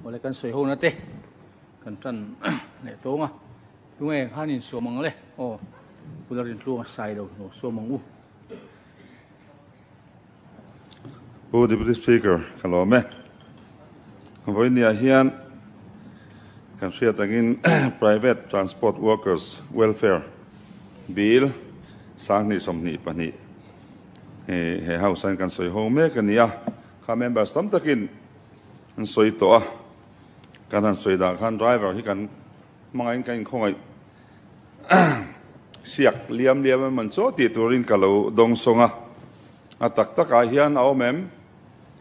Awle kan sawi ho na te kan tan leh tawng a tunge han in suam ang le o kula rin tluang sai lo no suam ang u u deputy speaker kalome voinia hian kan hriat angin private transport workers welfare bill sang ni som ni pani he house an kan sawi ho mek ania kha members tam takin An sawi tawh a, kan han sawi dan khan driver hi kan hmangaiin ka inkhawngaih siak liam liam em chaw tih turin ka lo dawng sawng a. A tak takah hian a awm em?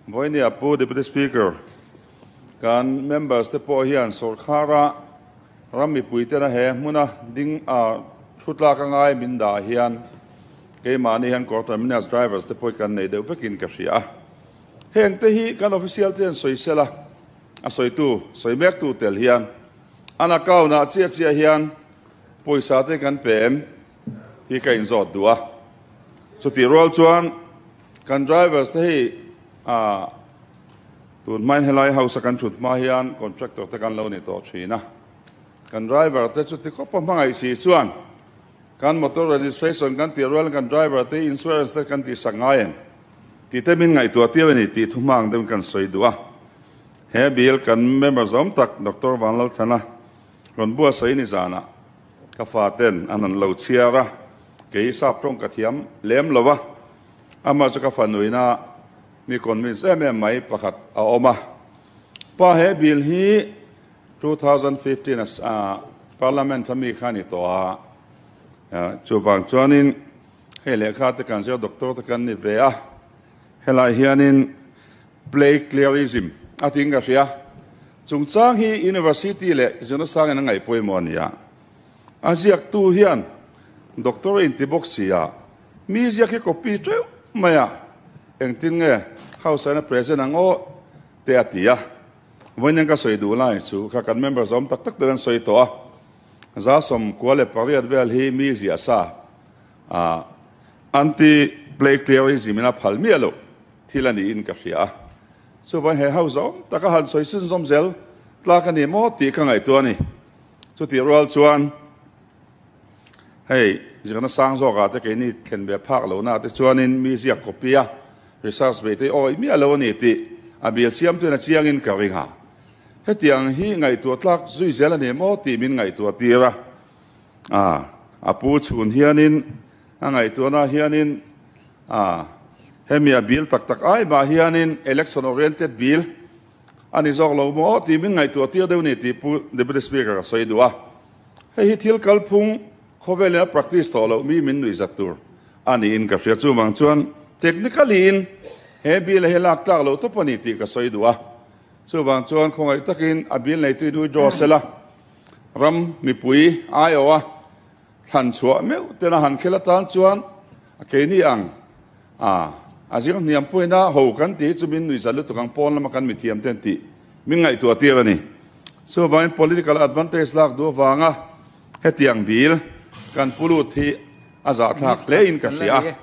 Vawinia Pu Deputy Speaker, kan members te pawh hian sawrkhara ram mipui tena he hmuna ding a thutlak a ngai min dah hian keimahni hian Kawr Terminus drivers te pawh kan nei deuh vekin ka hria a. Heng te hi kan official te'n sawi sel a, a sawitu sawi mek tu tel hian an account ah chiah chiah hian pawisa te kan pe em? Tih ka in zawt duh a. Chutih rual chuan kan drivers te hi ah tun hmain helai house a kan thut hma hian contractor te kan lo ni tawh thin a, kan driver te chuti khawpa hmangaih si chuan, Kan motor registration kan tih rual kan driver te insurance te kan tih sak ngai ang tite min ngaihtuah tir a ni tih thuhmang deuhin kan sawi duh a. He bil kan member zawm tak Doctor Vanlalthana rawn bua sawi ni zanah ka faten an han lo chhiar a, kei sap tawng ka thiam lem lo va. Amah chu ka fa nuihnaah mi convince em em mai pakhat a awm a. Pa he bill hi two thousand fifteen as a parliament a mi kha ni tawh a chu vang chuanin hei lehkha te kan zir doctor te kan ni ve a helai hianin play clearism a ting ka hria chungchang hi university le zinasang in a ngaihpawimawh a nia a ziak tu hian doctor in ti bawk si a Mi ziak hi copy teuh mai a, engtin nge Hausaina present ang aw teh a ti a, vawiinain ka sawi duh lai chu kha kan member zawm tak tak ten an sawi tawh a, Zasawm kua leh pariat vel hi mi ziah sa ah anti plagiarism in a phal miah loh thil a niin ka hria a, chuvawiin he ho zawm taka han sawi chunzawm zel tlak a ni maw tih ka ngaihtuah a ni, chutih rual chuan. Hei ziak nasang zawk ah te keini thlen ve phak lo na te chuan in mi ziak copy a research ve te awi miah lo a ni tih a bial siam tu in a chiang in ka ring a. Hetiang hi ngaihtuah tlak zui zel a ni maw tih min ngaihtuah tir a. Ah a pu chhun hian in a ngaihtuah na hian in ah hemi a bial tak tak ai mah hian in election oriented bial A ni zawk lo maw tih min ngaihtuah tir deuh ni tih Pu Deputy Speaker ka sawi duh a. Hei hi thil kalphung khawvelin a practice tawh loh mi min nuihzat tur a niin ka hria. Chuvang chuan technically in he bill hi lak tlak loh tawp a ni tih ka sawi duh a. Chuvang chuan khawngaih takin a bill neituin withdraw sela ram mipui aia. Thlan chhuah meuh ten a han khelh atan chuan a keini ang a a zir hniam puain a ho kan ti chu min nuihzat lutuk ang pawn lama kan mithiam ten tih min ngaihtuah tir a ni. Chuvangin political advantage lak duh avanga hetiang bil kan pu lut hi a zahthlak hle in ka hria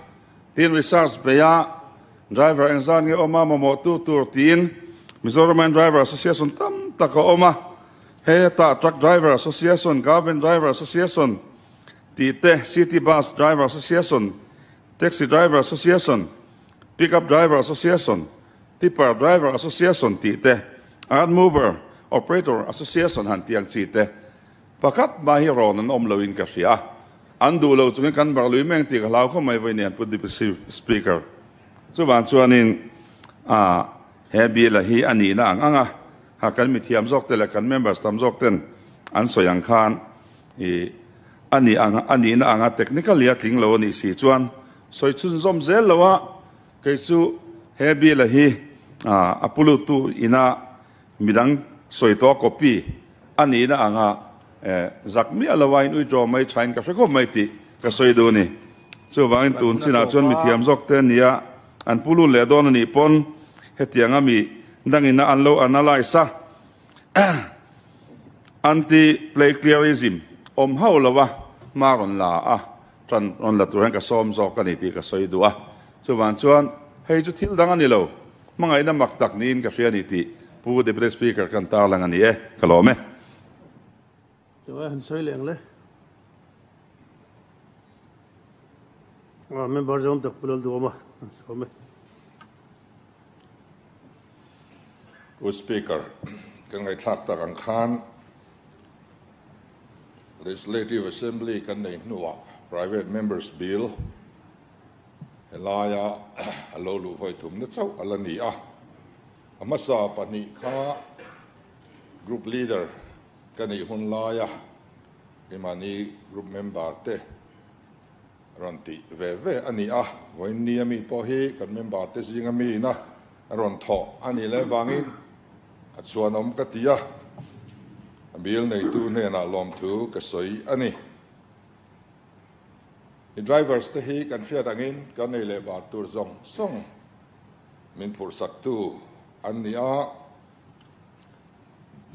tiin research bei a driver eng zan nge awm a mamawhtu tur tiin Mizoramin driver association tam tak a awm a. Heta Truck Driver Association, Garment Driver Association tih te, City Bus Driver Association, Taxi Driver Association, Pickup Driver Association, Tipper Driver Association tih te, Earth Mover Operator Association han tih ang chi te pakhat hma hi rawn an awm lo in ka hria a, an duh lo chungin kan mak lui mai ang tih ka hlau khawp mai vawiin a ni a Deputy Speaker. Chuvang chuanin a. He Bill-a hi a nihna ang ang a, a kan mithiam zawkte leh kan members tam zawkten an sawi ang khan i a nih ang a nihna ang a, technically a tling lo a nih si chuan sawi chhunzawm zel lo a, kei chu he Bill-a hi a pu luttu ina midang sawi tawh a copy a nihna anga zak miah lova in withdraw mai thain ka hre khawp mai tih ka sawi duh a ni. Chuvangin tun chinah chuan mithiam zawkte nia An pu lut leh dawn a nih pawn hetiang a mi dangin a an lo analyse a, anti plagiarism awm hauh lo a hma rawn la a tan rawn la tur hian ka sawm zawk a ni tih ka sawi duh a, chuvang chuan hei chu thil dang a ni lo, hmangaihna mak tak niin ka hria a ni tih pu Deputy Speaker ka han tarlang a ni e, ka lawm e. Chunga han sawi leng le. Member zawng tak pawh lo duam a, an sawm e. U Speaker, ka ngaihthlak tak ang khan Legislative Assembly kan nei hnuah Private Members Bill helaia a lo luh vawi thum na chauh a la ni a. A hmasa pahnih kha Group Leader Ka nih hun lai a i mahni group member te rawn tih ve ve a ni a, vawiinni a mi pawh hi kan member te zing a mi ina a rawn thawh a nih leh vangin a chuan awm ka ti a, a bil neitu hnenah lawmthu ka sawi a ni. I drivers te hi kan hriat angin ka ngei leh var tur zawng sawng min phurhsaktu an ni a,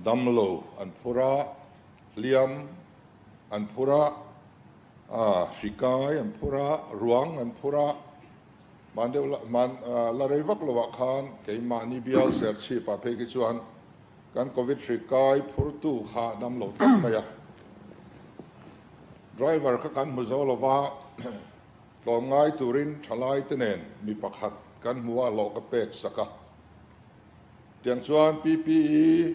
Damlo an phur a, hliam an phur a, hrikai an phur a, ruang an phur a. Mahn deuh la, mahn la rei vak lo ah khan keimahni bial ser chhip ah phei khi chuan kan Covid hrikai phur tu kha dam lo tlat mai a. Driver kha kan hmu zo lova, tlawm ngai turin thalai te nen mi pakhat kan hmu a hlawh ka pek sak a. Tiang chuan PPE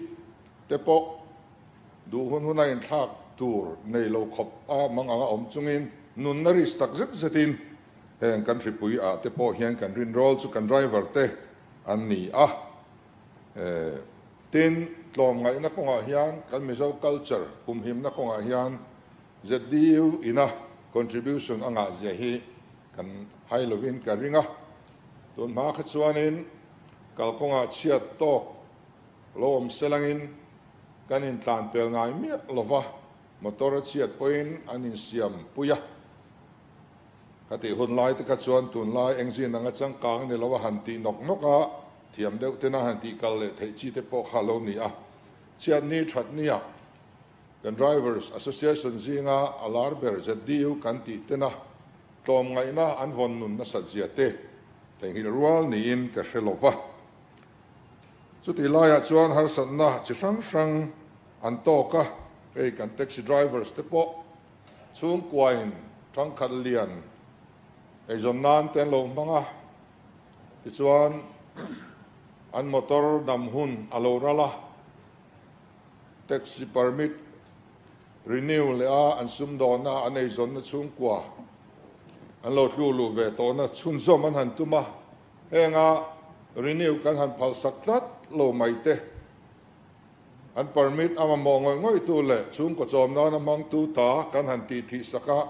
te pawh duh hun huna inthlak tur nei lo khawp a mang anga awm chungin nunna risk tak zet zetin heng kan hripui ah te pawh hian kan rinrawl chu kan driver te an ni a. Tin, tlawm ngaihna kawngah hian kan Mizo culture humhimna kawngah hian ZDU ina contribution a ngahzia hi Kan hai lovin ka ring a, tun hma kha chuanin kalkawngah chhiat tawk lo awm selangin kan intlanpel ngai miah lo va, motor a chhiat pawhin an insiam pui a. Ka tih hun lai te kha chuan tunlai engzin anga changkang ni lo a han tih nawk nawk a, thiam deuh tena han tih kal leh theih chi te pawh kha lo ni a, chhiatni thatni ah Kan Drivers Association zinga a lar ber ZDU kan tih tena tlawm ngaihna an vawn nun nasat zia te theihnghilh rual niin ka hre lo va. Chutih laiah chuan harsatna chi hrang hrang an tawk a, hei kan taxi drivers te pawh chhungkuain thangkhat lian eizawn nan te an lo hmang a, tichuan an motor nam hun a lo ral a. Taxi permit renew leh a an sumdawna an eizawnna chhungkua an lo tlu luh ve tawhna chhunzawm an han tum a, hênga renew kan han phalsak tlat lo mai te, an permit a mamawh ngawih ngawihtu leh chhungkaw chawm nana hmangtu ta kan han tih thih sak a,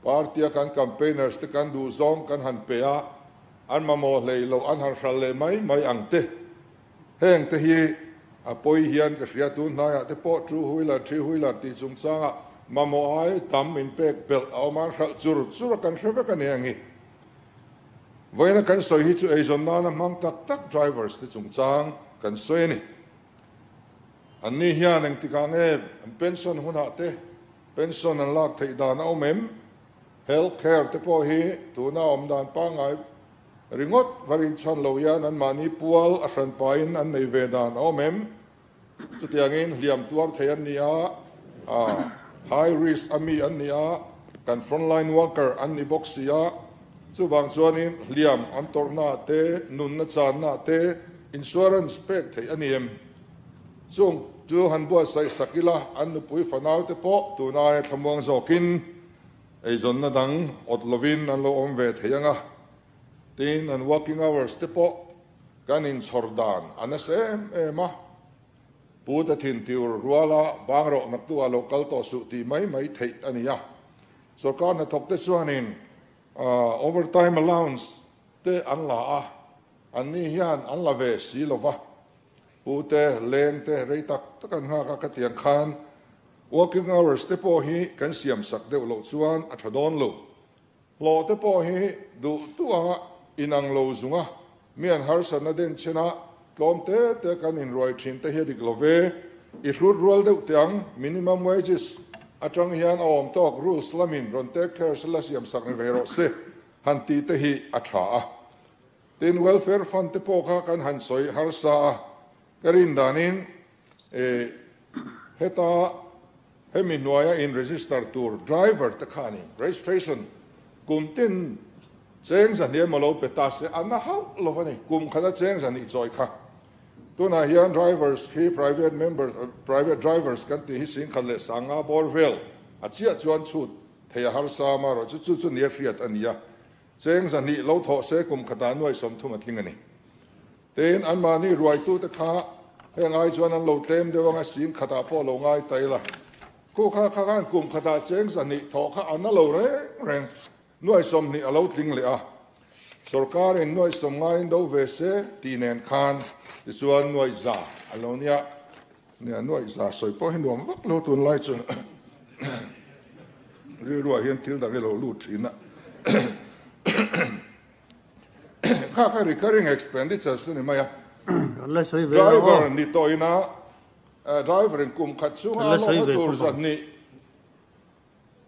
party-a kan campaigners te kan duhzawng kan han pe a, an mamawh hlei loh an han hral leh mai mai ang te Heng te hi a pawi hian ka hria tu hnaiah te pawh two wheeler, three wheeler tih chungchangah mamawh ai tam in pek belh a awm a, hralh chur chur a kan hre vek a ni ang i. Vawiina kan sawi hi chu eizawn nana hmang tak tak drivers te chungchang kan sawi a ni. An ni hian engtik ang e, an pension hunah te pension an lak theih dan a awm em? Health care te pawh hi tuna awm dan pangngai Ringawt va rinchhan lo hian an mahni pual a hran pain an nei ve dan a awm em? Chutiangin hliam tuar thei an ni a, high risk a mi an ni a, kan front line worker an ni bawk si a, chuvang chuanin hliam an tawrhna ah te, nunna channa ah te insurance pek theih a ni em? Chung chu han buatsaih sak ila an nupui fanaute pawh tunai a thlamuang zawkin Eizawnna dang awt lovin an lo awm ve thei ang a, tin an working hours te pawh kan inchhawr dan a nasa em em a. Pu te thintiur ruala bang rawh naktu ah lo kal tawh suh tih mai mai theih a ni a. Sorkar hnathawk te chuanin overtime allowance te an la a, anni hian an la ve si lova. Pute, Lengte, rei tak tak an nghak a ka ti ang khan working hours te pawh hi kan siam sak deuh loh chuan a tha dawn lo. Hlawh te pawh hi duh duh a inang lo zung a, mi an harsa na den chen a tlawm te te kan in ruai thin te hi a dik lo ve. I hlut rual deuh teh ang minimum wages atang hian a awm tawk rules lamin rawn take care se la siam sak ni ve rawh se han ti te hi a tha a. Teen welfare fund te pawh kha kan han sawi harsa a, ka rin danin heta hemi hnuaia in register tur driver te khan in registration kum ten cheng za hliam a lo pe ta se a na hauh lo a ni, kum khan a cheng za nih chawi kha. Tunah hian drivers khi private members private drivers kan tih hi singkhat leh sanga bawr vel a chiah chuan chhut theih a harsa a mah rawh chu chu chu ni a hriat a ni a, Cheng zahnih lo thawh se kum khatah nuai sawm thuma tling a ni. Tein anmahni ruaitute kha heng ai chuan an lo tlem deuh ang a, sim khatah pawh lo ngai ta ila. Khu kha kha khan kum khatah cheng zahnih thawh kha a na lo reng reng, nuai sawm hnih a lo tling leh a. Sorkarin nuai sawm ngaiin do ve se tih nen khan tichuan nuai za an lo nia. Nia a nuaih za sawi pawh hi nuam vak lo tunlai chu rilruah hian thil dang ilo lut thin a. Kha kha recurring expenditures a ni mai a. Driver ni tawina driver in kum khat chunga lawmna tur zan nih.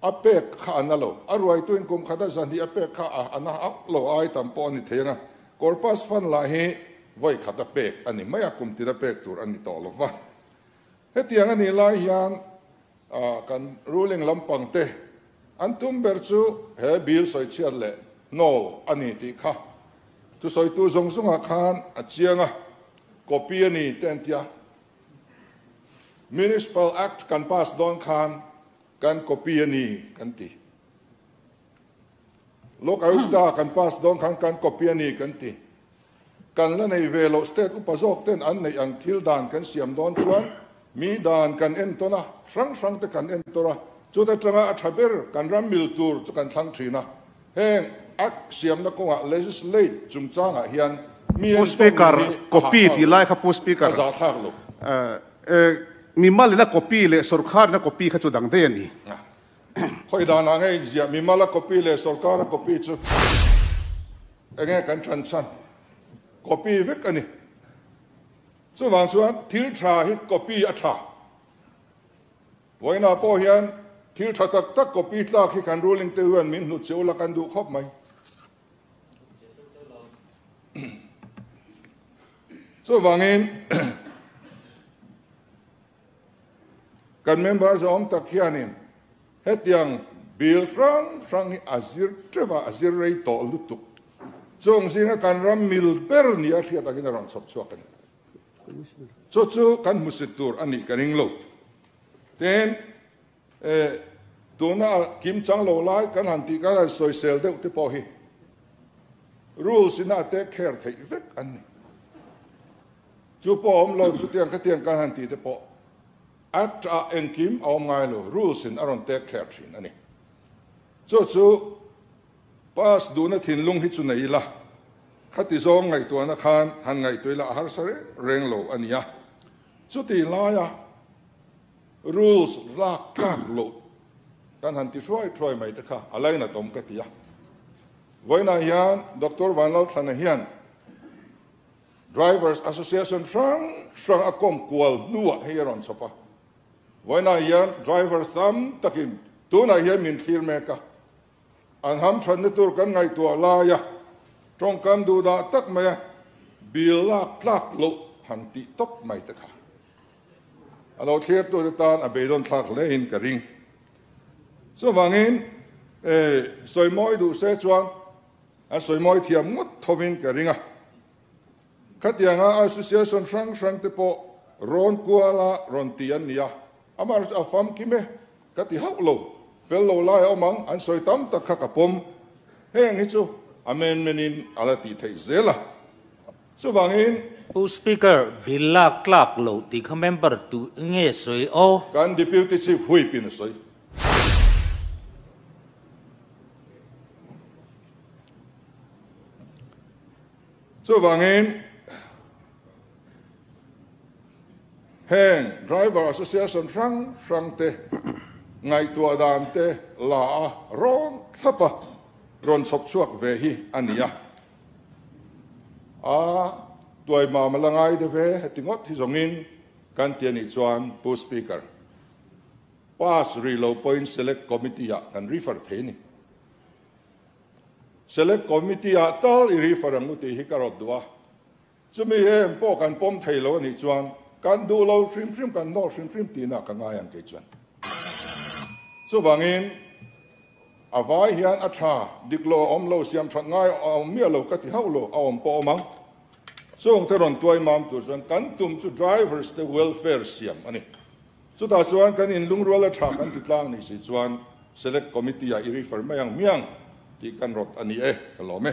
A pek kha a na lo. A ruaituin kum khata zahnih a pek kha a na a lo ai tam pawh a ni thei anga, Corpus fan lah hi vawi khat a pek a ni mai a, kum tina pek tur a ni tawh lo va. Hetiang a nih lai hian kan ruling lampang te an tum ber chu he Bill sawi chhiat leh no a ni tih kha thusawitu zawng zawngah khan a chiang a, copy a ni te an ti a. Municipal Act kan pass dawn khan kan copy a ni kan ti. Lok Ayukta kan pass dawn khan kan copy a ni kan ti. Kan la nei ve loh state upa zawk ten an neih ang thil dan kan siam dawn chuan mi dan kan en tawn a, hrang hrang te kan en tawrh a, chut atanga a tha ber kan ram mil tur chu kan thlang thin a. Heng Act siamna kawngah legislate chungchangah hian mi en pawh mi hi a hah thlak lo, a za thlak lo. Mimal in a copy leh sorkar in a copy kha chu dang daih a ni. Khawi dan ah nge a inziah? Mimal a copy leh sorkar a copy chu eng nge kan than chhan? Copy vek a ni. Chuvang chuan thil tha hi copy a tha. Vawiinah pawh hian thil tha tak tak copy tlak hi kan ruling te hian min hnu cheu la kan duh khawp mai. Chuvangin kan member zawng tak hianin hetiang bill hrang hrang hi a zir teuh a, a zir rei tawh lutuk. Chungzing a kan ram mil ber nia hria takin a rawn chhawp chhuak a ni. Chu chu kan hmusit tur a nih ka ring lo. Tin, e, tuna a kim chang lo lai kan han tih ka rawn sawi sel deuh te pawh hi rules in a take care theih vek an ni. Chu pawh a awm lo, chutiang khatiang kan han tih te pawh act ah engkim a awm ngai lo, rules in a rawn take care thin a ni. Chu chu Pass duhna thinlung hi chu nei ila, khati zawng ngaihtuahna khan han ngaihtuah ila a harsa reng reng lo a nia. Chuti laia rules lak tlak loh kan han ti hruai hruai mai te kha a lainat awm ka ti a. Vawiinah hian Doctor Vanlalthlana hian Drivers Association hrang hrang a kawm kual hnuah hei a rawn chhawp a. Vawiinah hian driver tam takin tunah hian min thlir mek a, An ham thatna tur kan ngaihtuah lai a, tawngkam duhdah tak mai a, bil lak tlak loh han tih tawp mai te kha a lo thlertu te tan a beidawn thlak hle in ka ring. Chuvangin sawimawi duh se chuan an sawimawi thiam ngawt tho in ka ring a. Khatianga Association hrang hrang te pawh rawn kual a rawn ti an ni a, amah resa a famkim e ka ti hauh lo, fel lo lai a awm ang an sawi tam tak kha ka pawm, heng hi chu amendment in a la tih theih zel a, chuvangin. Pu Speaker, bil lak tlak lo tih kha member tu nge sawi aw? Kan Deputy Chief Whip in a sawi. Chuvangin, heng Driver Association hrang hrang te ngaihtuah dan te la a rawn thlap a rawn chhawp chhuak ve hi a ni a. A tuaimam a la ngai deuh e heti ngawt hi zawngin kan ti a nih chuan Pu Speaker, Pass Rilo Point Select Committee-ah kan refer thei a ni. Select Committee ah tal i rifa reng u tih hi ka rawt duh a, chumi em pawh kan pawm thei lo a nih chuan kan duh lo hrim hrim kan nawr hrim hrim tihna ka ngai ang kei chuan. Chuvangin a vai hian a tha dik lo a awm lo, siam that ngai a awm miah lo ka ti hauh lo a awm pawh a awm ang. Chungte rawn tuai mam tur chuan kan tum chu drivers te welfare siam a ni. Chutah chuan kan in lungrual a tha kan ti tlang nih si chuan Select Committee ah i refer mai ang hmiang tih kan rawt a ni e, ka lawm e.